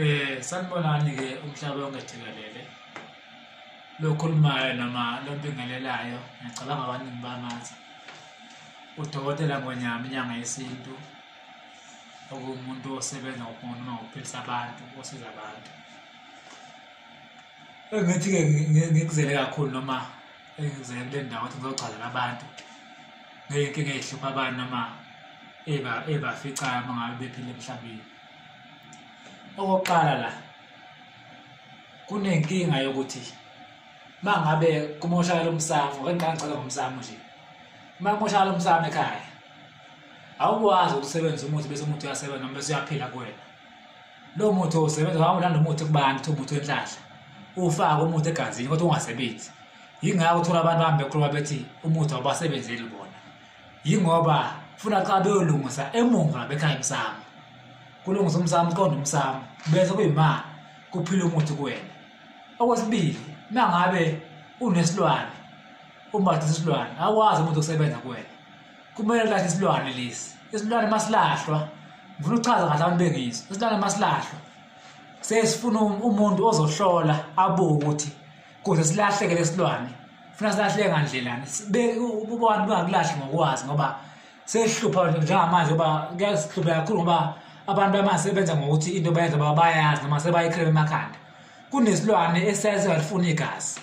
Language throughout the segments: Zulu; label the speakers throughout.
Speaker 1: Eh sanibonani ke umhlaba wonke jikelele lokhulumayo noma lombingelelayo ngiyacabanga abaningi bamazi udokotela ngonyama inyanga yesintu okuwumuntu osebenza ngokunoma ngokuphilisa abantu osiza abantu ngithi ke ngikuzele kakhulu noma engizele kule ndawo ukuthi ngizogcazela abantu ngeyinkinga ezihlupha abantu noma ebaficayo uma ngabe bephile emhlabeni okokuqala la kunenkinga yokuthi uma ngabe kumoshakala umsamo kangiqangicela ngomsamo nje uma kumoshakala umsamo ekhaya awukwazi ukusebenzisa umuthi bese umuthi uyasebenza noma bese uyaphila kuwena lo muthi osebenza wawulanda umuthi kubantu uthi umuthi wenhlahla ufake umuthi egazini kodwa ungasebenzi yingakho uthola abantu bahambe bekhuluma bethi umuthi awubasebenzeli bona yingoba funa xa beyolungisa emuva bekhaya emsamo kulungisa umsamo uqonda umsamo bese kuyimali kuphila umuthi kuwena okwesibili nangabe unesilwane umbatha isilwane akwazi umuntu ukusebenza kuwena kumele lathi isilwane lesi isilwane masilahlwa ngifuna ukuchaza kahle abantu bengizo isilwane masilahlwa sesifuna um-, umuntu ozohlola abuke ukuthi kuze silahleke lesilwane funa silahleke ngandlelani ubani bangakulahli ngokwazi ngoba sehlupha njengamanje uba kuyahlupha kakhulu ngoba abantu bamanje sebenza ngokuthi into bayenza baba bayazi noma sebayikhele emakhanda kunesilwane esiyaye singalifuni igazi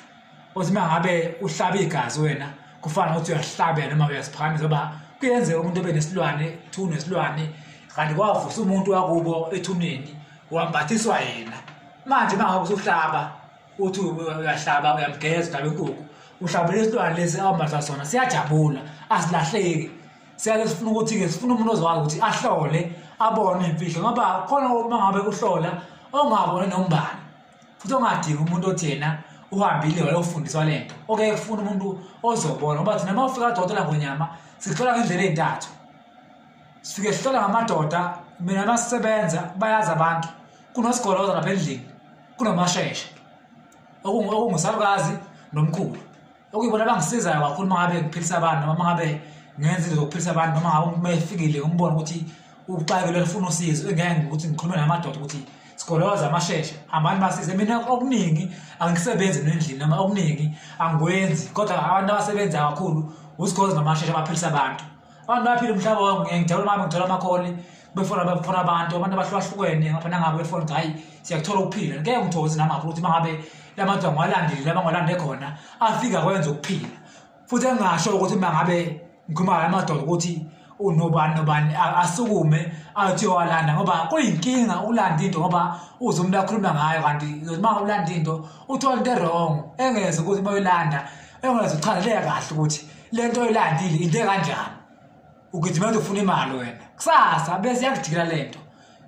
Speaker 1: uthi uma ngabe uhlaba igazi wena kufana nokuthi uyahlabela noma uyasiphakamisa ngoba kuyenzeka umuntu ebe nesilwane thuna nesilwane kanti kwavusa umuntu wakubo ethuneni wambathiswa yena manje uma ngabe usuhlaba uthi uyahlaba uyamgeza uhlaba inkukhu uhlabela isilwane lesi awambatha sona siyajabula asilahleki siyake sifuna ukuthi-ke sifuna umuntu ozokwazi ukuthi ahlole abone imfihlo ngoba khona uma ngabe uhlola ongabone nombani futhi ongadingi umuntu othi yena uhambile wayofundiswa le nto okeye kufuna umuntu ozobona ngoba thina uma ufika adokotela ngonyama sihlola ngendlela ey'ntathu sifike sihlola ngamadoda mina masebenza bayazi abantu kunosigoloza lapha endlini kunomasheshe okungusalukazi nomkhulu okuyibona abangisizayo kakhulu uma ngabe ngiphilisa abantu noma uma ngabe ngenza izinto zokuphilisa abantu noma ngabe uma efikile umbona ukuthi uxakile lifuna usizo engeke ukuthi ngikhulume namadoda ukuthi sigoloza amasheshe hambani basize mina okuningi angisebenzi nendlini noma okuningi angikwenzi kodwa abantu abasebenza kakhulu usigoloza namasheshe abaphilisa abantu abantu baphile umhlaba wabo ngiyangijabula mama ngithola amakholi befona befona abantu abantu abahlukahlukene ngapha nangabe befona ukuthi hayi siyakuthola ukuphila ngeke ngithokoze namaphi ukuthi mangabe la madoda ngiwalandile laba ngiwalande khona afika kwenza ukuphila futhi engingasho ukuthi mangabe ngikhuluma la madoda ukuthi unobani nobani asukume athi owalanda ngoba kuyinkinga ukulanda into ngoba uze umuntu akhuluma ngayo kanti uma ulanda into uthola into erong engeze ukuthi uma uyilanda engeze uchazele kahle ukuthi le nto oyilandile into ekanjani ugijima uzofuna imali wena kusasa bese yakujikela le nto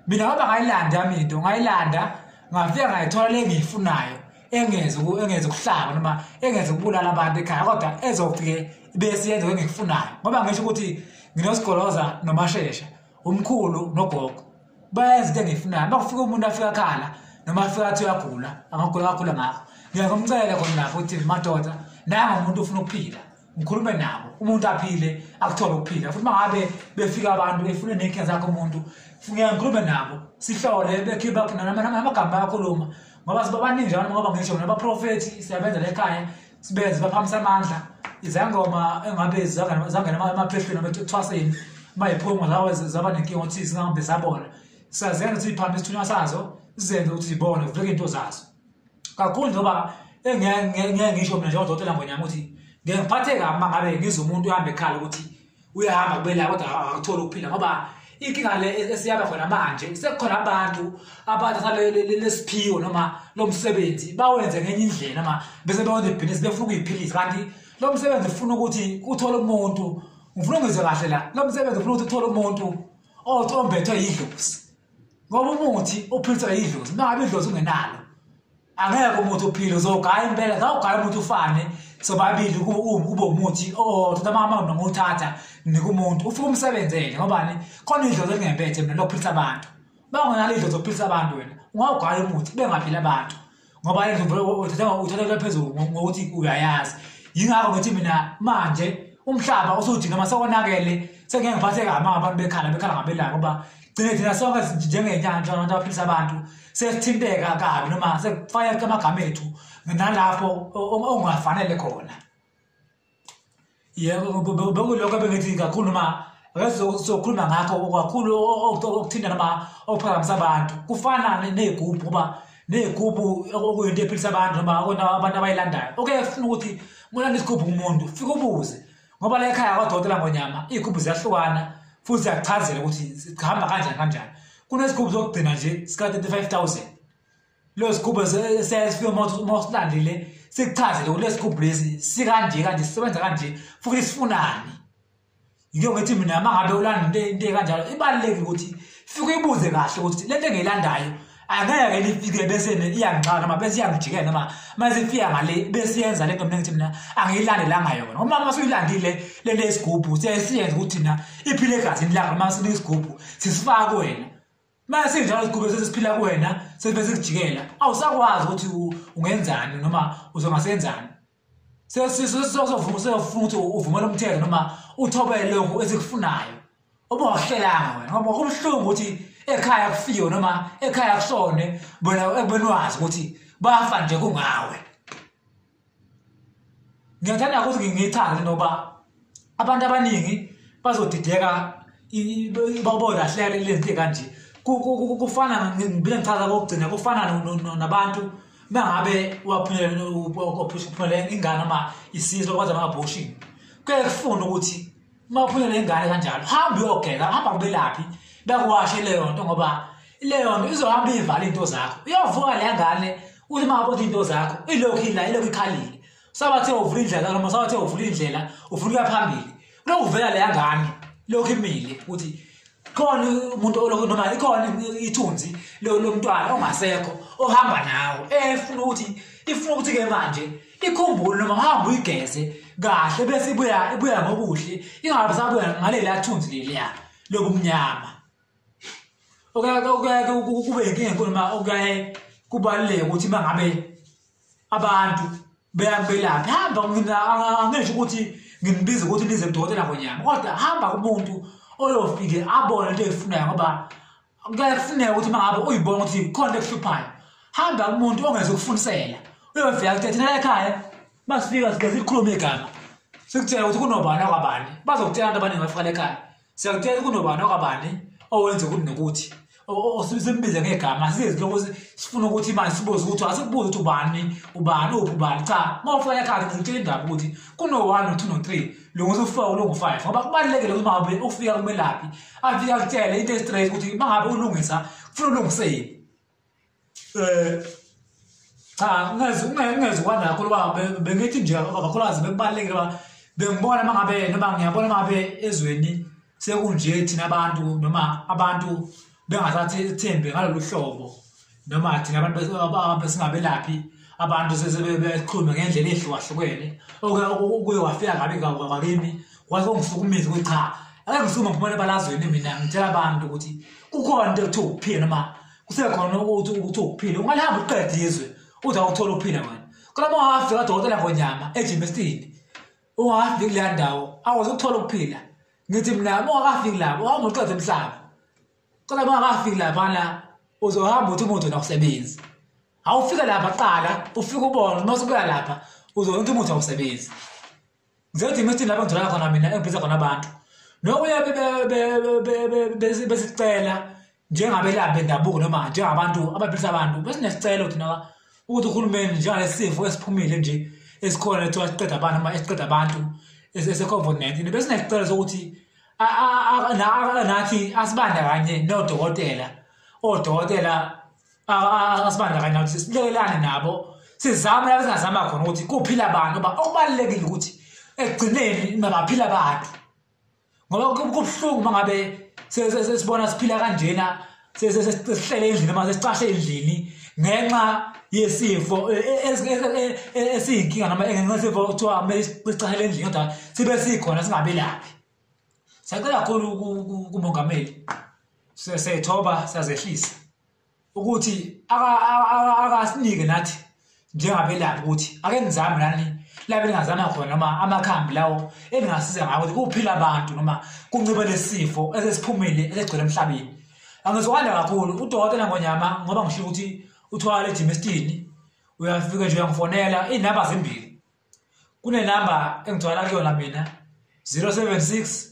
Speaker 1: mina ngoba ngayilanda yami into ngayilanda ngafika ngayithola le engiyifunayo engeze engeze ukuhlaba noma engeze ukubulala abantu ekhaya kodwa ezofike bese yenze engikufunayo ngoba ngisho ukuthi nginosigoloza nomashesha umkhulu nogogo bayazi into engiyifunayo uma kufika umuntu afika akhala noma afika athi uyagula angagula kakhula ngakho ngiyakumcela khona lapho ukuthi madoda nanga umuntu ufuna ukuphila ngikhulume nabo umuntu aphile akuthole ukuphila futhi uma ngabe befika abantu befune nenkinga zakho umuntu ngeke ngikhulume nabo sihlole bekhiba namagama ayakhuluma ngoba sibabaningi njalo ngoba ngisho nabaprofethi siyabenza lekhaya sibenzi baphakamisa amandla izangoma engabe zangena emaphehlweni abethi ethwaseni uma yiphongo lawo zaba nenkinga ukuthi zingahambe zabona siyazenza ukuthi ziphambe isithunywa sazo sizenze ukuthi zibone kuvuleke into zazo kakhulu njengoba engeke ngisho mina njengodokotela ngonyama ukuthi ngeke ngiphatheke kabi uma ngabe ngize umuntu uhambe ekhala ukuthi uyahamba kubela kodwa akutholi ukuphila ngoba inkinga le e-, esiyaba khona manje sekukhona abantu abathatha lesiphiwo noma lo msebenzi bawenze ngenye indlela noma bese bewenza ibhizinisi befuna ukuyiphilisa kanti lo msebenzi ufuna ukuthi uthole umuntu ngifuna ungizwe kahle la lo msebenzi ufuna ukuthi uthole umuntu othi ombethwe yidlozi ngoba umuthi uphilisa yidlozi mangabe idlozi ungenalo angeke umuntu uphile uzogaya impela zawugaya umuntu ufane sobabili kube umuthi othatha amamawona ngothatha nika umuntu ufike umsebenzele ngobani khona idlozi elingempethe mina lokuphilisa abantu bangonalo idlozi okuphilisa abantu wena ungawugaya umuthi bengaphili abantu ngoba uthathelwe phezulu ngokuthi uyayazi yingakho ngithi mina manje umhlaba usudinga masekonakele sengeke ngiphatheka amanga abantu bekhala bekhala ngabelanga ngoba gcine thina sonke njengenyanja abantu abaphilisa abantu sesithinteka kabi noma sekufayeka amagama ethu nalapho ongafanele khona yebo bekulokho bengithi kakhulu noma sokhuluma ngakho kakhulu okuthinta noma okuphakamisa abantu kufana ney'gubhu kuba ney'gubhu okuyinto ephilisa abantu noma abantu abayilandayo okuyefuna ukuthi mulanda isigubhu kumuntu fike ubuze ngoba la ekhaya kwadokotela ngonyama iy'gubhu ziyahlukana futhi ziyakuchazela ukuthi sihamba kanjani kanjani kunesigubhu sokugcina nje sika-35 000 leyo sigubhu sesifike uma usilandile sikuchazele ukuthi lesigubhu lesi sikanje kanje sisebenza kanje futhi sifunani yike ngithi mina uma ngabe ulanda into ekanjalo ibalulekile ukuthi fike uyibuze kahle ukuthi le nto engiyilandayo angeke lifike bese iyangixaka noma bese iyangijikela noma mase ifika ngale bese yenza lento mina ngithi mina angiyilandelanga yona uma mase uyilandile le lesigubhu sesiyenza ukuthi na iphile egazini lakho noma sine isigubhu sisifaka kuwena mase njalo isigubhu sesiphila kuwena sesibe sikujikela awusakwazi ukuthi ungenzani noma uzongasenzani sesizwe sizovuma usefuna ukuthi uvumele umthetho noma uthobele lokhu esikufunayo uma wahlelanga wena ngoba kubuhlungu ukuthi ekhaya kufiwe noma ekhaya kushone bona ekubeni wazi ukuthi bafa nje kungawe ngiyathanda ukuthi ngiyichaze noba abantu abaningi bazodideka babolahleka lento kanje kufana ngibile ngichaza kokugcina kufana nabantu mangabe waphumelela ingane noma isizwe kwenza ama-abortion kuye kufuna ukuthi uma uphumelela ingane kanjalo hambe uyogeza hamba kubelaphi bekuwashe leyo nto ngoba leyo nto izohamba ivala iy'nto zakho uyovuka le ngane uthi uma abona iy'nto zakho ilokhu ila ilokhu ikhalile sabathe uvula indlela noma sabathe uvula indlela ufuna ukuya phambili kunokuvela leya ngane lokhu imile ukuthi khona umuntu olokhu noma ikhona ithunzi lomntwana ongasekho ohamba nawo efuna ukuthi ifuna ukuthi ke manje ikhumbule noma uhamba uyigeze kahle bese ibuya ibuya ngokuhle ingabe sabuya ngaleli athunzi leliya lobumnyama okuyake kube inkinga enkulu uma okuyaye kubaluleke ukuthi uma ngabe abantu beyakubelaphi hamba mina angisho ukuthi nginibiza ukuthi nize kudokotela ngonyama kodwa hamba kumuntu oyofike abone into eyifunayo ngoba kuyafuneka ukuthi uma ngabe uyibona ukuthi khona ekuhluphayo hamba kumuntu ongeze ukufundisela uyofika kuthe thina ekhaya masifika sigeza ikhulume igama sikutshela ukuthi kunobani akwabani bazokutshela abantu abaningi bafika lekhaya siyakutshela kunobani okabani owenze ukuthi nokuthi osimbize ngegama sizi lokho sifuna ukuthi manje sibuze ukuthi asikubuze ukuthi ubani ubani uphi ubani cha uma ufika ekhaya ngizitshela indaba ukuthi kuno-one no-two no-three lunguza ufour ulungu-five ngoba kubalulekile ukuthi mangabe ufika kumelaphi afike akutshele into estraight ukuthi mangabe ulungisa kufuna ulungiseni eh cha ngeze ngeze kwanakho loba bengithi nje kakhulukazi bekubalekile ba bengibona mangabe noma ngiyabona mangabe ezweni sekunje thina abantu noma abantu bengasathi ethembe ngalolu hlobo noma thina abantu besingabelaphi abantu sesebexhume ngendlela ehlukahlukene oke kuye wafika kabi kakimi waze ungihlukumezi ukuthi cha ake ngisukume ngiphumele ebalazweni mina ngitshela abantu ukuthi kukhona into ekuthiwa ukuphila noma kusekhona ukuthi ukuthi ukuphila ungalihambi uqede izwe uthi awuthole ukuphila wena kodwa uma ungafika kadokotela ngonyama ejimestini ungafiki kuleya ndawo awazi ukuthola ukuphila ngithi mina uma ungakafiki lapho awungoqede emhlaba kodwa uma ungakafiki lapha la uzohamba uthi umuntu wena usebenzi awufike lapha qala ufike ubone uma usubuya lapha uzobona ukuthi umuntu awusebenzi ngizothi ngithi lapho ngitholakala khona mina engibiza khona abantu nokuya besicela njengabelaphi bendabuko noma njengabantu abaphilisa abantu besinesicelo thina ukuthi uhulumeni njengalesi sifo esiphumile nje esikhona lethiwa siqeda abantu noma esiqeda abantu ese-covid-19 besinesicelo sokuthi nathi asibandakanye nodokotela odokotela asibandakanye nabo silekelane nabo sizame la singazama khona ukuthi kuphila abantu ba okubalekile ukuthi ekugcineni mabaphila abantu ngoba kubuhlungu mangabe sesibona siphila kanjena sesihlele endlini manje sicashe endlini ngenxa yesifo e, e, e, esiyinkinga noma ngenxa yesifo kuthiwa kumele sicashele endlini kodwa sibe sikhona singabelaphi siyacela kakhulu kumongameli siyethoba siyazehlisa ukuthi akasinike nathi njengabelaphi ukuthi ake nizame nani labe lingazama khona noma amakhambi lawo elingasiza ngawo ukuthi kuphila abantu noma kuncibe lesifo esesiphumile esigcwele emhlabeni angizwakala kakhulu udokotela ngonyama ngoba ngisho ukuthi uthwala ejimestini uyafika nje uyangifonela iy'namba zimbili kunenamba engithwala kuyona mina 076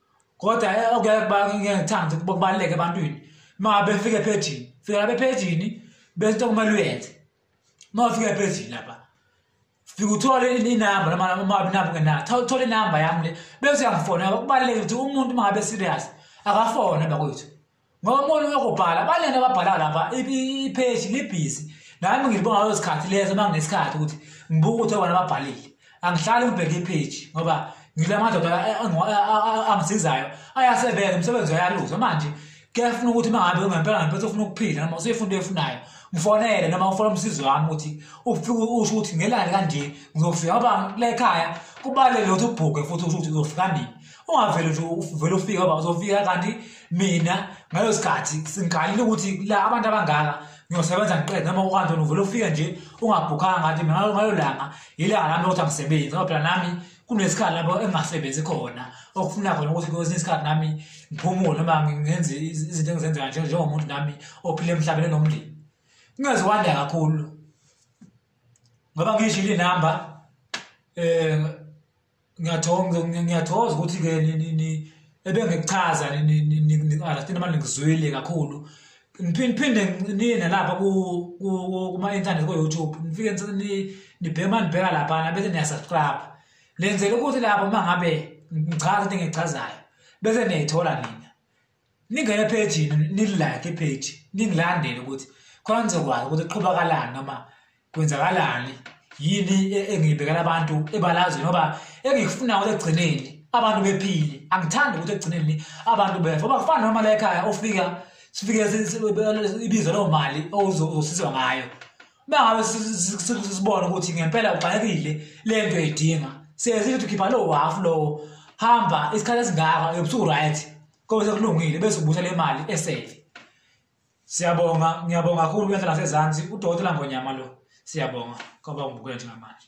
Speaker 1: kodwa eh, okuyakuyangithanda ukuthi bakubaluleke ebantwini uma befike ephejini fika lapha ephejini bese into kumele uyenze uma ufika ephejini lapha fika uthole inamba noma uma inamba ungenayo Tho- thola inamba yami le bese uyangifonela kubalulekile ukuthi umuntu uma ngabe serious akafone bakwethu ngomona uyokubhala abaningi ababhala lapha ipheshi libhizi nami ngilibonga lezo sikhathi lezo uma nginesikhathi ukuthi ngibuke ukuthi obani ababhalile angihlali ngibheke ipheji ngoba ngila madoda angisizayo ayasebenza umsebenzi uyaluza manje kuyafuna ukuthi uma ngabe ungempela ngempela ufuna ukuphila noma usuyifuna into efunayo ngifonele noma ufona umsizi wami ukuthi ufike usho ukuthi ngelani kanje ngizofika ngoba lekhaya kubalulekile ukuthi ubhukhe futhi usho ukuthi uzofika nini ungavele nje uvele ufika uba uzofika kanti mina ngaleso sikhathi singigalile ukuthi la abantu abangaka ngiyosebenza ngiqede noma ukantoni uvele ufike nje ungabhukhanga ngathi mina ngalo langa yilanga lami lokuthi angisebenzi ngoba phela nami kunesikhathi lapho engingasebenzi khona okufuna khona ukuthi kwesinye isikhathi nami ngiphumule noma ngenze izinto engizenza kanje njengomuntu nami ophile emhlabeni enomndeni kungeze kwanda kakhulu ngoba ngiyishile inamba um ngiyathokoza ngiyathokoza ukuthi ke ebengikuchaza ngiqalathini manje ngizwile kakhulu ngiphinde niye nalapha kuma-intanethi ko-youtube nifike nibheke uma nibheka laphana bese niyasubscribe lenzela ukuthi lapho uma ngabe ngichaza into engiyichazayo bese niyayithola nina ningene ephejini nilike ipage ningilandele ukuthi khona nizokwazi ukuthi qhubakalani noma kwenzakalani yini e-, engiyibekela abantu ebalazweni ngoba engikufuna ukuthi ekugcineni abantu bephile angithandi ukuthi ekugcineni abantu befa oba kufana noma la ekhaya ofika sifike ibizo loo mali ozosizwa ngayo bangabe sibona ukuthi ngempela ugxakekile le nto edinga siyesithi ukuthi khipha lowo hafu lowo hamba isikhathi esingaka ebusuku right kobe sekulungile bese ubusa le mali esefe siyabonga ngiyabonga kakhulu kwenza nasezansi udokotela ngonyama lo siyabonga ngoba ungibukela njengamanje